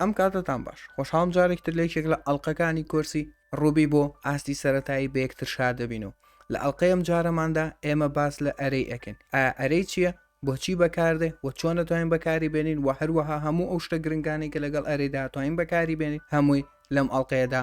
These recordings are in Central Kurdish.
ئەم کاتەتان باش. خۆشحاڵم جارێکی تر لە یەکێک لە ئەڵقەکانی کۆرسی ڕوبی بۆ ئاستی سەرەتایی بە یەکتر شاد دەبین و لە ئەڵقەی ئەم جارەماندا ئێمە باس لە ئەرێی ئەکەین ئایا ئەرێی چییە بۆچی بەکاردێ و چۆن دەتوانین بەکاری بێنین و هەروەها هەموو ئەو شتە گرنگانەی کە لەگەڵ ئەرێدا توانین بەکاری بێنین هەمووی لەم ئەڵقەیەدا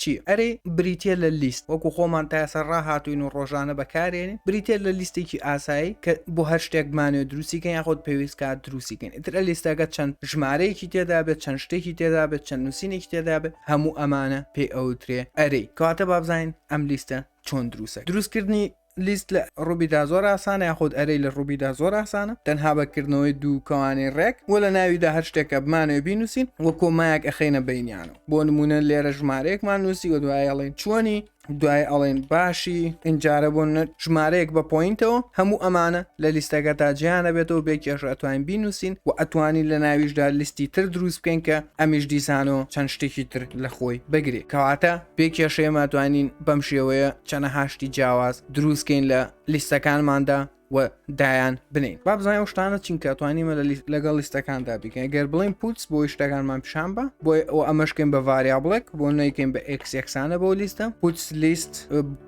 چی ئەرێ بریتیە لە لیست وەکو خۆمان تایەسەر ڕاهاتوین و ڕۆژانە بەکارێنین بریتیە لە لیستێکی ئاسایی کە بۆ هەر شتێک بمانوێت دروستی کەین یاخود پێویست کات دروستی کەین ئیتر لیستەکە چەند ژمارەیەکی تێدابێت چەند شتێکی تێدابێت چەند نوسینێکی تێدابێت هەموو ئەمانە پێی ئەوترێ ئەرێ کەواتە بابزانین ئەم لیستە چۆن دروسە دروستکردنی لیست لە ڕوبیدا زۆر ئاسانە یاخود ئەرەی لە ڕوبیدا زۆر ئاسانە تەنها بە کردنەوەی دوو کەوانەی ڕێک وە لە ناویدا هەر شتێک کە بمانەوێ بینوسین وە کۆمایەک ئەخەینە بەینیانەوە بۆ نمونە لێرە ژمارەیەکمان نوسی وە دوای ئەڵێین چۆنی دوای ئەڵێن باشی ئینجارە بۆ ژمارەیەک بە پۆینتەوە هەموو ئەمانە لە لیستەکە تا جیانە بێتەوە بێ کێشە ئەتوانین بینوسین و ئەتوانین لە ناویشدا لیستی تر دروست بکەین کە ئەمیش دیسانەوە چەند شتێکی تر لە خۆی بگرێ کەواتە بێ کێشەیەما توانین بەم شێوەیە چەنەها شتی جیاواز دروستکەین لە لیستەکانماندا و دایان بنین با بزانین ئەو شتانە چین کە توانیمە لە لیست لەگەڵ لیستەکاندا بکەین گەر بڵین پوتس بۆی شتەکانمان پیشان بە بۆی ئەو ئەمەشکەین بە ڤاریابڵێک بۆ نەیکەین بە ئەکسێکسانە بۆ لیستە پوتس لیست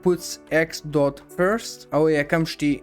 پوتس ئەکس دۆت فرست ئەوە یەکەم شتی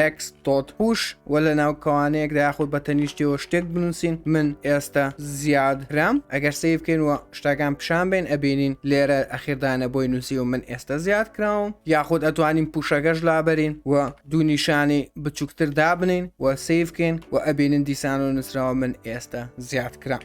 ئەکس تۆت پوش و لە ناو کەوانەیەکدا یاخود بە تەنیشتەوە شتێک بنووسین من ئێستا زیاد رام ئەگەر سیف بکەین و شتاکان پیشان بین ئەبینین لێرە ئەخیردانە بۆی نووسی و من ئێستا زیاد کراوم یاخود ئەتوانین پوشەکەش لابەرین و دوو نیشانی بچووکتر دابنین و سیفکەین و ئەبینین دیسان و نووسراوە من ئێستا زیاد کرام.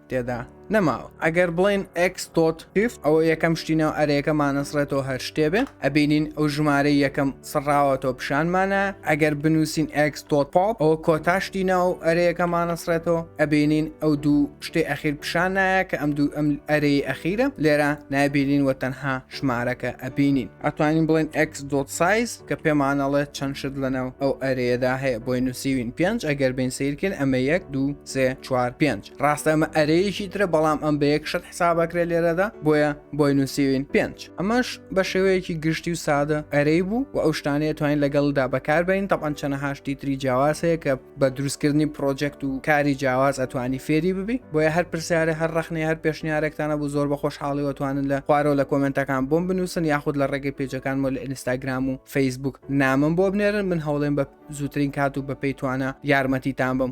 تێدا نەماوە ئەگەر بڵێن ئەک تۆت تف ئەوە یەکەم شتی ناو ئەرەیەکە مانەسڕێتەوە هەر شتێبێ ئەبینین ئەو ژمارە یەکەم سڕاوەتەوە پیشانمانە ئەگەر بنووسین ئەک تۆت پاپ ئەوە کۆتاشتی ناو ئەرەیەکە مانەسڕێتەوە ئەبینین ئەو دوو شتێ ئەخیر پیشان نایە کە ئەم دوو ئەم ئەرەی ئەخیرە لێرە نابینین وە تەنها ژمارەکە ئەبینین ئەتوانین بڵێن ئەک دۆت سایز کە پێمانەڵێت چەند شت لەناو ئەو ئەرەیەدا هەیە بۆی نووسیوین پێنج ئەگەر بین سیرکرد ئەمە یەک دوو سێ چوار پێنج ڕاستە ئەمە ئەرەیەکی ترە بەڵام ئەم بە یەک شت حسابەکرێ لێرەدا بۆیە بۆی نووسیوین پێنج ئەمەش بە شێوەیەکی گشتی و سادە ئەرەی بوو و ئەو شتانەیە توانین لەگەڵدا بەکاربین تەبان چەنە هاشتی تری جیاواز هەیە کە بە دروستکردنی پرۆجەکت و کاری جیاواز ئەتوانی فێری ببی بۆیە هەر پرسیارە هەر ڕخنەی هەر پێشنیارێکتانە بوو زۆر بە خۆشحاڵی وتوانن لە خوارەوە لە کۆمنتەکان بۆم بنووسن یاخود لە ڕێگەی پێجەکانمە لە ئینستاگرام و فەیسبوک نامم بۆ بنێرن من هەوڵێن بە زووترین کات و بە پێی توانە یارمەتیتان بم